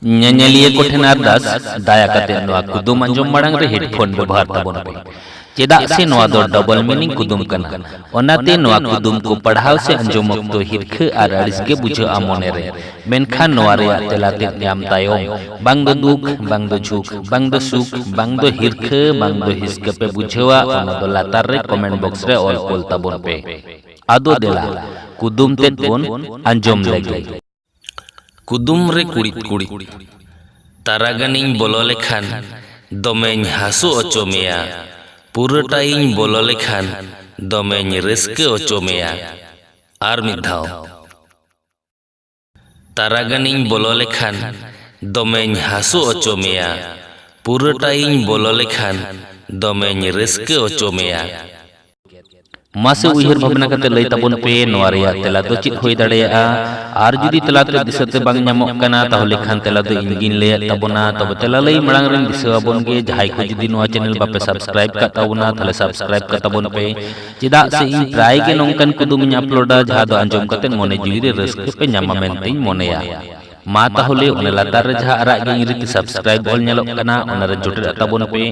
ᱧᱮᱧᱮᱞᱤᱭᱟᱹ ᱠᱚ ᱴᱷᱮᱱ ᱟᱨᱫᱟᱥ ᱫᱟᱭᱟ ᱠᱟᱛᱮ ᱱᱚᱣᱟ ᱠᱩᱫᱩᱢ ᱟᱸᱡᱚᱢ ᱢᱟᱲᱟᱝ ᱨᱮ ᱦᱮᱰᱯᱷᱳᱱ ᱵᱮᱵᱚᱦᱟᱨ ᱛᱟᱵᱚᱱ ᱯᱮ ᱪᱮᱫᱟᱜ ᱥᱮ ᱱᱚᱣᱟ ᱫᱚ ᱰᱚᱵᱚᱞ ᱢᱤᱱᱤᱝ ᱠᱩᱫᱩᱢ ᱠᱟᱱᱟ ᱚᱱᱟᱛᱮ ᱱᱚᱣᱟ ᱠᱩᱫᱩᱢ ᱠᱚ ᱯᱟᱲᱦᱟᱣ ᱥᱮ ᱟᱸᱡᱚᱢ ᱚᱠᱛᱚ ᱦᱤᱨᱠᱷᱟᱹ ᱟᱨ ᱟᱹᱲᱤᱥ ᱜᱮ ᱵᱩᱡᱷᱟᱹᱜᱼᱟ ᱢᱚᱱᱮ ᱨᱮ ᱢᱮᱱᱠᱷᱟᱱ ᱱᱚᱣᱟ ᱨᱮᱭᱟᱜ ᱛᱮᱞᱟ ᱛᱮᱫ ᱧᱟᱢ ᱛᱟᱭᱚᱢ ᱵᱟᱝ ᱫᱚ ᱫᱩᱠ ᱵᱟᱝ ᱫᱚ ᱡᱷᱩᱠ ᱵᱟᱝ ᱫᱚ ᱥᱩᱠ ᱵᱟᱝ ᱫᱚ ᱦᱤᱨᱠᱷᱟᱹ ᱵᱟᱝ ᱫᱚ ᱦᱤᱥᱠᱟᱹ ᱯᱮ ᱵᱩᱡᱷᱟᱹᱣᱟ ᱚᱱᱟ ᱫᱚ ᱞᱟᱛᱟᱨ ᱨᱮ ᱠᱚᱢᱮᱱᱴ ᱵᱚᱠᱥ ᱨᱮ ᱚᱞ ᱠᱳᱞ ᱛᱟᱵᱚᱱ ᱯᱮ ᱟᱫᱚ ᱫᱮᱞᱟ ᱠᱩᱫᱩᱢ ᱛᱮᱫ ᱵᱚᱱ ᱟᱸᱡᱚᱢ ᱞᱮᱜᱮ ᱠᱩᱫᱩᱢ ᱨᱮ ᱠᱩᱲᱤᱫ ᱠᱩᱲᱤᱫ ᱛᱟᱨᱟ ᱜᱟᱱᱤᱧ ᱵᱚᱞᱚ ᱞᱮᱠᱷᱟᱱ ᱫᱚᱢᱮᱧ ᱦᱟᱹᱥᱩ ᱚᱪᱚ ᱢᱮᱭᱟ ᱯᱩᱨᱟᱹᱴᱟᱭᱤᱧ ᱵᱚᱞᱚ ᱞᱮᱠᱷᱟᱱ ᱫᱚᱢᱮᱧ ᱨᱟᱹᱥᱠᱟᱹ ᱚᱪᱚ ᱢᱮᱭᱟ ᱟᱨ ᱢᱤᱫ ᱫᱷᱟᱣ ᱛᱟᱨᱟ ᱜᱟᱱᱤᱧ ᱵᱚᱞᱚ ᱞᱮᱠᱷᱟᱱ ᱫᱚᱢᱮᱧ ᱦᱟᱹᱥᱩ ᱚᱪᱚ ᱢᱮᱭᱟ ᱯᱩᱨᱟᱹᱴᱟᱭᱤᱧ ᱵᱚᱞᱚ ᱞᱮᱠᱷᱟᱱ ᱫᱚᱢᱮᱧ ᱨᱟᱹᱥᱠᱟᱹ ᱚᱪᱚ ᱢᱮᱭᱟ ᱢᱟᱥᱮ ᱩᱭᱦᱟᱹᱨ ᱵᱷᱟᱵᱽᱱᱟ ᱠᱟᱛᱮ ᱞᱟᱹᱭ ᱛᱟᱵᱚᱱ ᱯᱮ ᱱᱚᱣᱟ ᱨᱮᱭᱟᱜ ᱛᱮᱞᱟ ᱫᱚ ᱪᱮᱫ ᱦᱩᱭ ᱫᱟᱲᱮᱭᱟᱜᱼᱟ ᱟᱨ ᱡᱩᱫᱤ ᱛᱮᱞᱟ ᱛᱮ ᱫᱤᱥᱟᱹ ᱛᱮ ᱵᱟᱝ ᱧᱟᱢᱚᱜ ᱠᱟᱱᱟ ᱛᱟᱦᱚᱞᱮ ᱠᱷᱟᱱ ᱛᱮᱞᱟ ᱫᱚ ᱤᱧ ᱜᱤᱧ ᱞᱟᱹᱭᱟᱫ ᱛᱟᱵᱚᱱᱟ ᱛᱚᱵᱮ ᱛᱮᱞᱟ ᱞᱟᱹᱭ ᱢᱟᱲᱟᱝ ᱨᱮᱧ ᱫᱤᱥᱟᱹ ᱟᱵᱚᱱ ᱜᱮ ᱡᱟᱦᱟᱸᱭ ᱠᱚ ᱡᱩᱫᱤ ᱱᱚᱣᱟ ᱪᱮᱱᱮᱞ ᱵᱟᱯᱮ ᱥᱟᱵᱥᱠᱨᱟᱭᱤᱵ ᱠᱟᱜ ᱛᱟᱵᱚᱱᱟ ᱛᱟᱦᱚᱞᱮ ᱥᱟᱵᱥᱠᱨᱟᱭᱤᱵ ᱠᱟᱜ ᱛᱟᱵᱚᱱ ᱯᱮ ᱪᱮᱫᱟᱜ ᱥᱮ ᱤᱧ ᱯᱨᱟᱭ ᱜᱮ ᱱᱚᱝᱠᱟᱱ ᱠᱩᱫᱩᱢᱤᱧ ᱟᱯᱞᱳᱰᱟ ᱡᱟᱦᱟᱸ ᱫᱚ ᱟᱸᱡᱚᱢ ᱠᱟᱛᱮ ᱢᱚᱱᱮ ᱡᱤᱣᱤ ᱨᱮ ᱨᱟᱹᱥᱠᱟᱹ ᱯᱮ ᱧᱟᱢᱟ ᱢᱮᱱᱛᱮᱧ ᱢᱚᱱᱮᱭᱟ ᱢᱟ ᱛᱟᱦᱚᱞᱮ ᱚᱱᱟ ᱞᱟᱛᱟᱨ ᱨᱮ ᱡᱟᱦᱟᱸ ᱟᱨᱟᱜ ᱜᱮ ᱤᱝᱨᱮᱡᱤ ᱛᱮ ᱥᱟᱵᱥᱠᱨᱟᱭᱤᱵ ᱚᱞ ᱧᱮᱞᱚᱜ ᱠᱟᱱᱟ ᱚᱱᱟ ᱨᱮ ᱡᱚᱴᱮᱫ ᱛᱟᱵᱚᱱ ᱯᱮ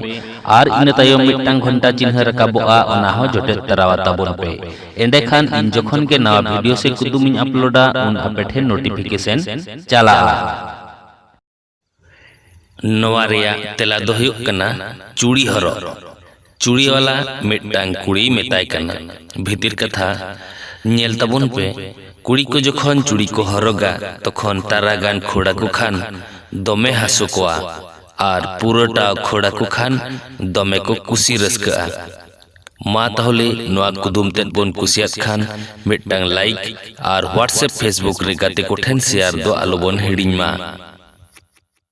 ᱟᱨ ᱤᱱᱟᱹ ᱛᱟᱭᱚᱢ ᱢᱤᱫᱴᱟᱝ ᱜᱷᱚᱱᱴᱟ ᱪᱤᱱᱦᱟᱹ ᱨᱟᱠᱟᱵᱚᱜᱼᱟ ᱚᱱᱟ ᱦᱚᱸ ᱡᱚᱴᱮᱫ ᱛᱟᱨᱟᱣᱟ ᱛᱟᱵᱚᱱ ᱯᱮ ᱮᱸᱰᱮᱠᱷᱟᱱ ᱤᱧ ᱡᱚᱠᱷᱚᱱ ᱜᱮ ᱱᱟᱣᱟ ᱵᱷᱤᱰᱤᱭᱳ ᱥᱮ ᱠᱩᱫᱩᱢ ᱤᱧ ᱟᱯᱞᱳᱰᱟ ᱩᱱ ᱟᱯᱮ ᱴᱷᱮᱱ ᱱᱳᱴᱤᱯᱷᱤᱠᱮᱥᱚᱱ ᱪᱟᱞᱟᱜᱼᱟ ᱱᱚᱣᱟ ᱨᱮᱭᱟᱜ ᱛᱮᱞᱟ ᱫᱚ ᱦᱩᱭᱩᱜ ᱠᱟᱱᱟ ᱪᱩᱲᱤ ᱦᱚᱨᱚᱜ ᱪᱩᱲᱤᱣᱟᱞᱟ ᱢᱤᱫᱴᱟᱝ ᱠᱩᱲᱤᱭ ᱢᱮᱛᱟᱭ ᱠᱟᱱᱟ, ᱵᱷᱤᱛᱤᱨ ᱠᱟᱛᱷᱟ, ᱧᱮᱞ ᱛᱟᱵᱚᱱ ᱯᱮ, ᱠᱩᱲᱤ ᱠᱚ ᱡᱚᱠᱷᱚᱱ ᱪᱩᱲᱤ ᱠᱚ ᱦᱚᱨᱚᱜᱟ ᱛᱚᱠᱷᱚᱱ ᱛᱟᱨᱟ ᱜᱟᱱ ᱠᱷᱟᱹᱲ ᱟᱠᱚ ᱠᱷᱟᱱ ᱫᱚᱢᱮ ᱦᱟᱹᱥᱩ ᱠᱚᱣᱟ ᱟᱨ ᱯᱩᱨᱟᱹ ᱴᱟᱣ ᱠᱷᱟᱹᱲ ᱟᱠᱚ ᱠᱷᱟᱱ ᱫᱚᱢᱮ ᱠᱚ ᱠᱩᱥᱤ ᱨᱟᱹᱥᱠᱟᱹᱜᱼᱟ᱾ ᱢᱟ ᱛᱟᱦᱚᱞᱮ ᱱᱚᱣᱟ ᱠᱩᱫᱩᱢ ᱛᱮᱫ ᱵᱚᱱ ᱠᱩᱥᱤᱭᱟᱫ ᱠᱷᱟᱱ ᱢᱤᱫᱴᱟᱝ ᱞᱟᱭᱤᱠ ᱟᱨ ᱦᱣᱟᱴᱥᱮᱯ ᱯᱷᱮᱥᱵᱩᱠ ᱨᱮ ᱜᱟᱛᱮ ᱠᱚ ᱴᱷᱮᱱ ᱥᱮᱭᱟᱨ ᱫᱚ ᱟᱞᱚ ᱵᱚᱱ ᱦᱤᱲᱤᱧ ᱢᱟ᱾